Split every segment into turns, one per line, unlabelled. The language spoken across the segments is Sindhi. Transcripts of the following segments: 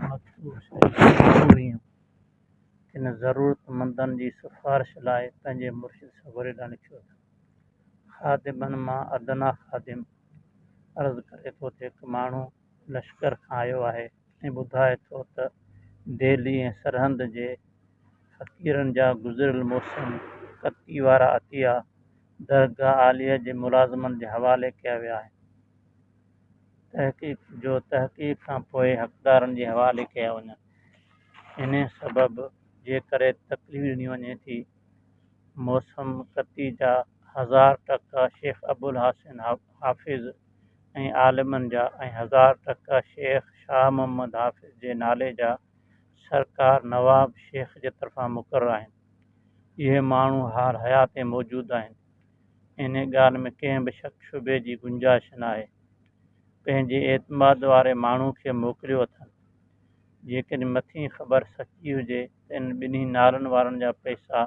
مخصوص ڪوئيون ڪن ضرورتمندن جي سفارش لاء پنهنجي مرشد سڳوري ڏانهن لکيو ته، خادمن مان ادنيٰ خادم عرض ڪري ٿو ته هڪ ماڻهو لشڪر کان آيو آهي ۽ ٻڌائي ٿو ته دهلي ۽ سرهند جي فقيرن جا گذريل موسم قطعي وارا عطيا درگاهه عاليه جي ملازمن جي حوالي ڪيا ويا آهن. تحقيق جو تحقيق کان پوء حقدارن جي حوالي ڪيا وڃن انهي سبب جي ڪري تڪليف ڏني وڃي ٿي موسم ڪتي جا هزار ٽڪا شيخ ابوالحسن حافظ ۽ عالمن جا ۽ هزار ٽڪا شيخ شاهه محمد حافظ جي نالي جا سرڪار نواب شيخ جي طرفان مقرر آهن اهي ماڻهو حال حيات ۾ موجود آهن انهيء ڳالهه ۾ ڪنهن به شڪ شبهي جي گنجائش ناهي. پنهنجي اعتماد واري ماڻهو کي موڪليو اٿن. جيڪڏهن مٿين خبر سچي هجي ته انهن ٻنهي نالن وارن جا پئسا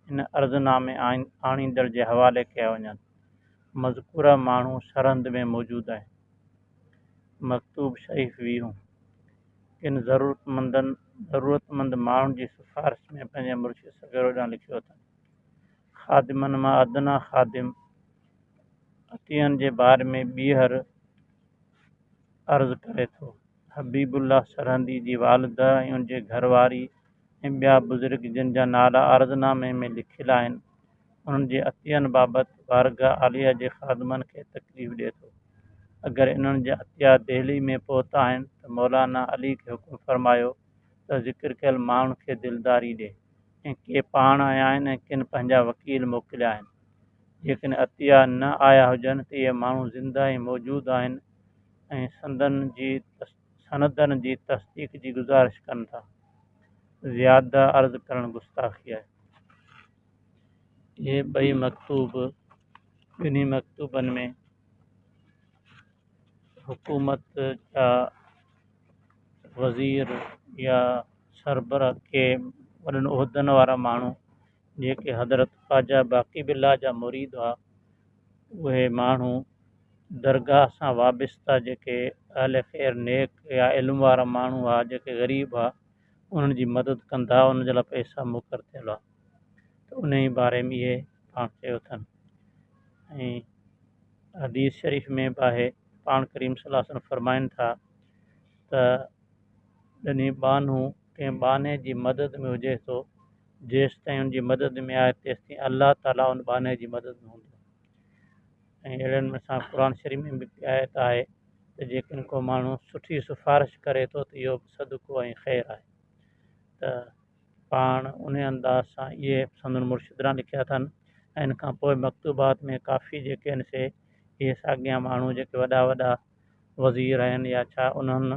هن عرضنامي آڻيندڙ جي حوالي ڪيا وڃن. مذڪوره ماڻهو سرهند ۾ موجود آهن. مڪتوب شريف ويهون ڪن ضرورتمندن ضرورتمند ماڻهن جي سفارش ۾ پنهنجي مرشد سگهڙو ڏانهن لکيو اٿن. خادمن مان ادنيٰ خادم عطيئن جي باري ۾ ٻيهر عرض ڪري ٿو. حبيب الله سرهندي جي والده ۽ ان جي گهر واري ۽ ٻيا بزرگ جن جا نالا عرض نامي ۾ لکيل آهن، انهن جي عطيئن بابت بارگاهه عاليه جي خادمن کي تڪليف ڏئي ٿو. اگر انهن جا عطيا دهلي ۾ پهتا آهن ته مولانا علي کي حڪم فرمايو ته ذڪر ڪيل ماڻهن کي دلداري ڏي ۽ ڪي پاڻ آيا آهن ۽ ڪن پنهنجا وڪيل موڪليا آهن. جيڪڏهن عطيه نه آيا هجن ته اهي ماڻهو زنده ۽ موجود آهن ۽ سندن جي سندن جي تصديق جي گذارش ڪن ٿا. زياده عرض ڪرڻ گستاخي آهي. اهي ٻئي مڪتوب ٻنهي مڪتوبن ۾ حڪومت جا وزير يا سربراهه ڪي وڏن عهدن وارا ماڻهو جيڪي حضرت خواجه باقي بالله جا مريد هئا اهي ماڻهو درگاهه سان وابسته جيڪي اهل خير نيڪ يا علم وارا ماڻهو هئا جيڪي غريب هئا انهن جي مدد ڪندا ان جي لاء پئسا مقرر ٿيل هئا ته انهي باري ۾ اهي پاڻ چيو اٿن ۽ حديث شريف ۾ به آهي پاڻ ڪريم صلي الله عليه وسلم فرمائن ٿا ته ڏني ٻانهون ڪنهن ٻانهي جي مدد ۾ هجي ٿو جيستائين ان جي مدد ۾ آهي تيستائين الله تعاليٰ ان ٻانهي جي مدد ۾ هوندو ۽ اهڙن ۾ سان قرآن شريف ۾ به هڪ آيت آهي ته جيڪڏهن ڪو ماڻهو سٺي سفارش ڪري ٿو ته اهو به صدقو ۽ خير آهي ته پاڻ انهي انداز سان اهي سندن مرشدران لکيا اٿن ۽ ان کان پوء مڪتوبات ۾ ڪافي جيڪي آهن سي اهي ساڳيا ماڻهو جيڪي وڏا وڏا وزير آهن يا ڇا انهن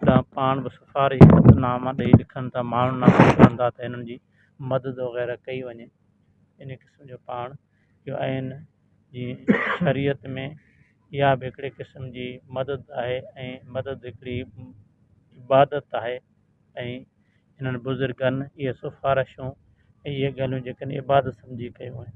ڏانهن پاڻ به سفارشي خط ناما ڏئي لکن ٿا ماڻهن ڏانهن پهچن ٿا ته هنن جي مدد وغيره ڪئي وڃي انهي قسم جو پاڻ جو عين جي شريعت ۾ اها به هڪڙي قسم جي مدد آهي ۽ مدد هڪڙي عبادت آهي ۽ انهن بزرگن اهي سفارشون ۽ اهي ڳالهيون جيڪن عبادت سمجهي ڪيون آهن.